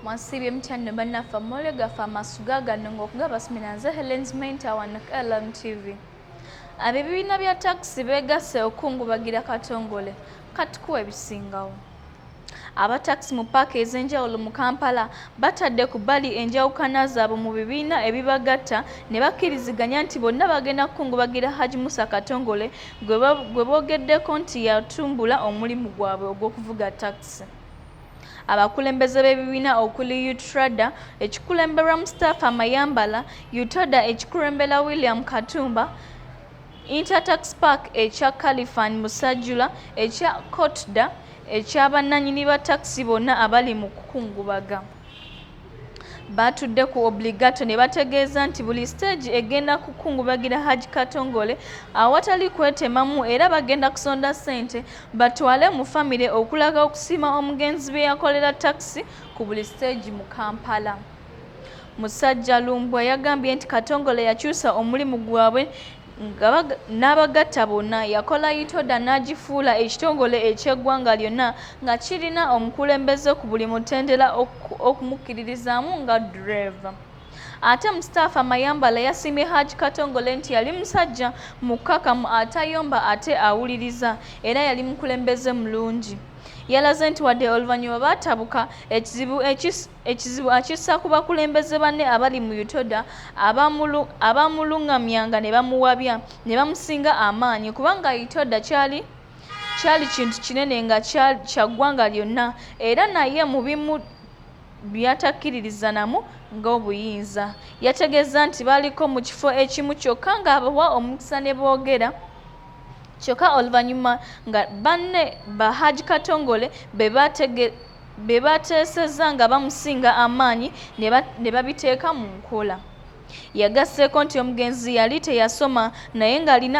mwasibye mutya nno bannaffe amoole gaffe amasuga gano ng'okugabasumira nze helens menta wano ku lmtv ab'ebibiina bya takisi beegasse okukungubagira katongole katukuwa ebisingawo abatakisi mu paaka ez'enjawulo mu kampala batadde ku bbali enjawukana zaabwe mu bibiina ebibagatta ne bakkiriziganya nti bonna bagenda kukungubagira haji musa katongole gwe boogeddeko nti yatumbula omulimu gwabwe ogw'okuvuga takisi abakulembeze b'ebibiina okuli utrada ekikulemberwa mustapha mayambala utoda ekikulembera william katumba intertax park ekya califan musajjula ekya cotda ekyabannanyini ba takisi bonna abali mu kukungubaga baatudde ku obligato ne bategeeza nti buli siteegi egenda kukungubagira haj katongole awatali kwetemamu era bagenda kusonda ssente batwale mu famire okulaga okusiima omugenzi bye yakolera takisi ku buli siteegi mu kampala musajja lumbwa yagambye nti katongole yakyusa omulimu gwabwe n'abagatta bonna yakola itoda n'agifuula ekitongole eky'eggwanga lyonna nga kirina omukulembeze ku buli mutendera okumukkiririzaamu nga dureeva ate mustapha mayambala yasiimye haj katongole nti yali musajja mukkakamu atayomba ate awuliriza era yali mukulembeze mulungi yalaze nti wadde oluvannyuma baatabuka ekizibu ekis ekizibu akissa ku bakulembeze banne abali mu utoda abamulungamyanga ne bamuwabya ne bamusinga amaanyi kubanga utoda kyali kyali kintu kinene nga kya ggwanga lyonna era naye mu bimu byatakkiririzanamu ng'obuyinza yategeeza nti baliko mu kifo ekimu kyokka ng'abawa omukisa ne boogera kyokka oluvannyuma nga banne ba haji katongole be bategera be bateesezza nga bamusinga amaanyi ne babiteeka mu nkola. Yagasseeko nti omugenzi yali teyasoma naye ng'alina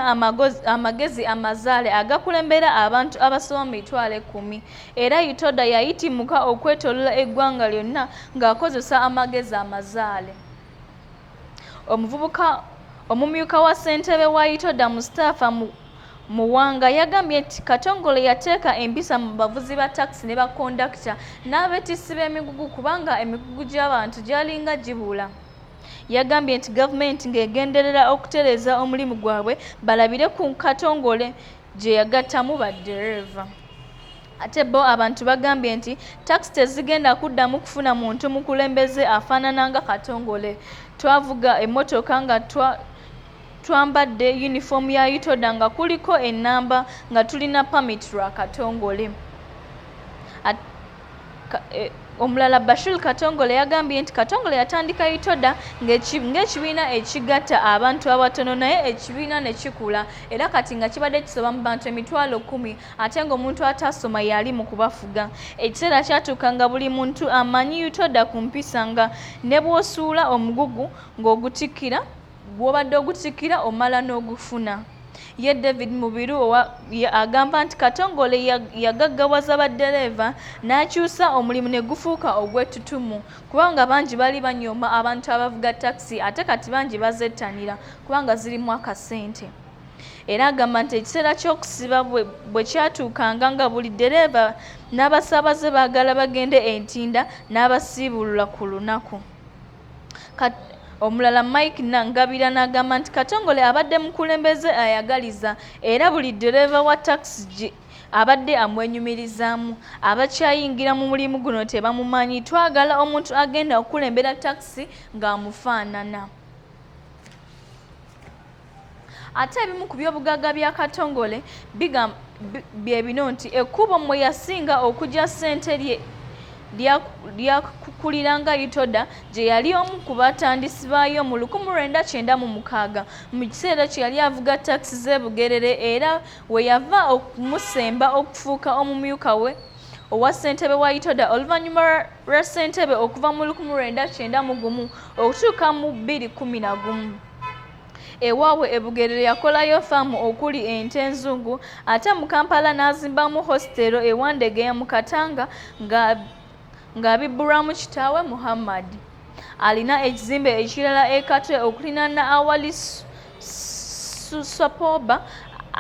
amagezi amazaale agakulembera abantu abasoba mu mitwalo ekkumi era Itoda yayitimuka okwetoolola eggwanga lyonna ng'akozesa amagezi amazaale. Omuvubuka omumyuka wa ssentebe wa Itoda Mustafa Muwanga yagambye nti Katongole yateeka empisa mu bavuzi ba takisi ne bakondakita n'abeetissi b'emigugu kubanga emigugu gy'abantu gyalinga gibuula. Yagambye nti gavumenti ng'egenderera okutereeza omulimu gwabwe balabire ku Katongole gye yagattamu baddereeva. Ate bo abantu bagambye nti takisi tezigenda kuddamu kufuna muntu mukulembeze afaanana nga Katongole. Twavuga emmotoka nga twambadde yunifoomu ya UTODA nga kuliko ennamba nga tulina pamiti lwa Katongole. E, omulala Bashir Katongole yagambye nti Katongole yatandika UTODA ng'ekibiina ekigatta abantu abatono naye ekibiina ne kikula era kati nga kibadde kisoba mu bantu emitwalo kkumi ate ng'omuntu ataasoma yali mu kubafuga ekiseera kyatuuka nga buli muntu amanyi yutoda ku mpisa nga ne bw'osuula omugugu ng'ogutikkira gw'obadde ogutikkira omala n'ogufuna ye david mubiru agamba nti katongole yagaggawaza baddereeva n'akyusa omulimu ne gufuuka ogw'ettutumu kubanga bangi bali banyooma abantu abavuga takisi ate kati bangi bazettanira kubanga zirimu akasente era agamba nti ekiseera ky'okusiba bwe kyatuukanga nga buli ddereeva n'abasaabaze baagala bagende e ntinda n'abasiibulula ku lunaku omulala mike nangabira n'agamba nti katongole abadde mukulembeze ayagaliza era buli ddereeva wa takisi abadde amwenyumirizaamu abakyayingira mu mulimu guno tebamumanyi twagala omuntu agenda okukulembera takisi ng'amufaanana ate ebimu ku byobugagga bya katongole bye bino nti ekkubo mwe yasinga okugya ssente lyakukuliranga itoda gye yali omu ku batandisi baayo mu 1996 mu kiseera kye yali avuga takisi z'e bugerere era we yava okumusemba okufuuka omumyuka we owa ssentebe wa itoda oluvannyuma lwa ssentebe okuva mu 1991 okutuuka mu 211 ewaabwe e Bugerere yakolayo faamu okuli ente enzungu ate mu Kampala n'azimbamu hositeero e Wandegeya mu Katanga nga ng'abibbulwamu kitaawe Muhammad. Alina ekizimbe ekirala e Katwe okulinaana awali Susapoba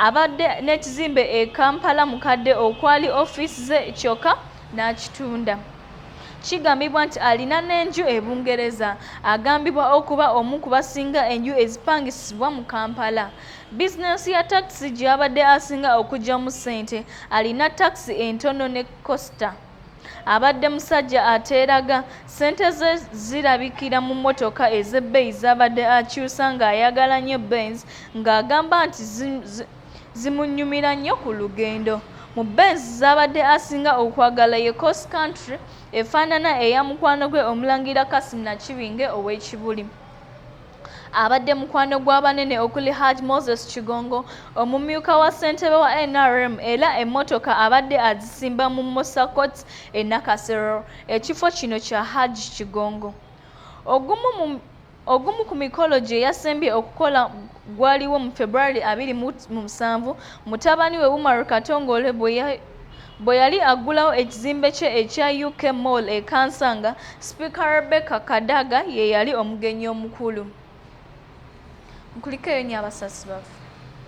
abadde n'ekizimbe e Kampala mukadde okwali ofiisi ze kyokka n'akitunda kigambibwa nti alina n'enju e bungereza agambibwa okuba omu ku basinga enju ezipangisibwa mu kampala bizinensi ya takisi gy'abadde asinga okugyamu ssente alina takisi entono ne costa abadde musajja ateeraga ssente ze zirabikira mu mmotoka ez'ebbeeyi z'abadde akyusa ng'ayagala nnyo benz ng'agamba nti zimunyumira nnyo ku lugendo. Mu Benz z'abadde asinga okwagala ye Cross Country efaanana eya mukwano gwe Omulangira Kasim Nakibinge ow'e Kibuli. abadde mukwano gw'abanene okuli haj moses kigongo omumyuka wa ssentebe wa nrm era emmotoka abadde azisimba mu mosakot e nakasero ekifo kino kya haj kigongo ogumu Ogumu ku mikolo gye yasembye okukola gwaliwo mu February abiri mu musanvu mutabani we Umar Katongole bwe yali aggulawo ekizimbe kye ekya UK Mall e Kansanga, Sipiika Rebecca Kadaga ye yali omugenyi omukulu. Mukulikeyo nnyo abasasi baffe.